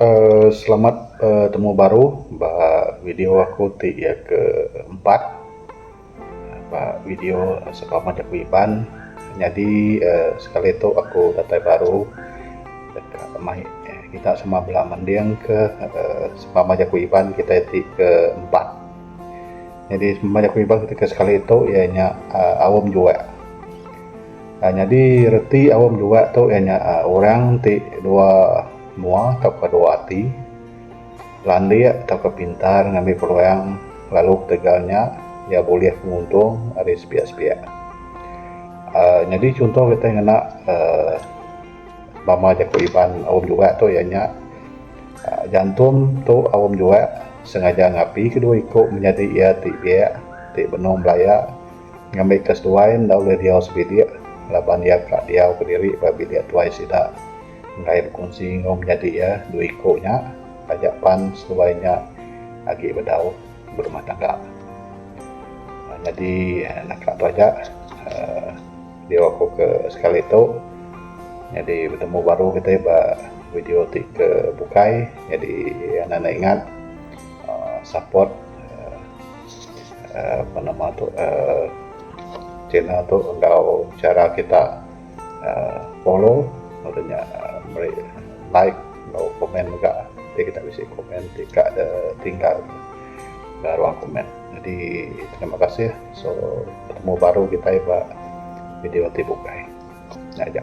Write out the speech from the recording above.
uhh selamat betemu baru ba video aku ti iya ke empat ba video selamat aku Iban nyadi uhh sekali tu aku datai baru deka mai kita sama bala mending ke uhh selamat aku Iban kitai ti ke empat. Nyadi selamat aku Iban kitai ti ke sekali tu iya nya uhh Aum Juwek. Nyadi reti aum dua tu iya nya orang ti dua mua tauka dua ati landik tauka pintar ngambi peluang lalu ketegal nya iya bulih penguntung ari sepiak-sepiak aaa nyadi chunto kitai ngena aaa bama jaku Iban aum dua tu iya nya jantum tu aum dua sengaja ngapi kedua iku menyadi iya ti biak ti benung belaya Ngambi ke seduai enda ulih diau sebilik laban iya ka diau kediri ba bilik tuai sida enggai bekunsi enggau menyadi iya dua iku nya taja pan seduai nya agi bedau berumah tangga. Nyadi naka tu aja uhh video aku ke sekali tu nyadi betemu baru kitai ba video ti ke bukai nyadi enda ingat uhh support uhh. Apa nama tu uhh kina tu enggau chara kita uhh follow lalu nya meri like enggau komen mega ti kita bisi komen ti ka de tinggal da ruang komen. Jadi terima kasih so betemu baru kitai ba video ti bukai. Nya aja.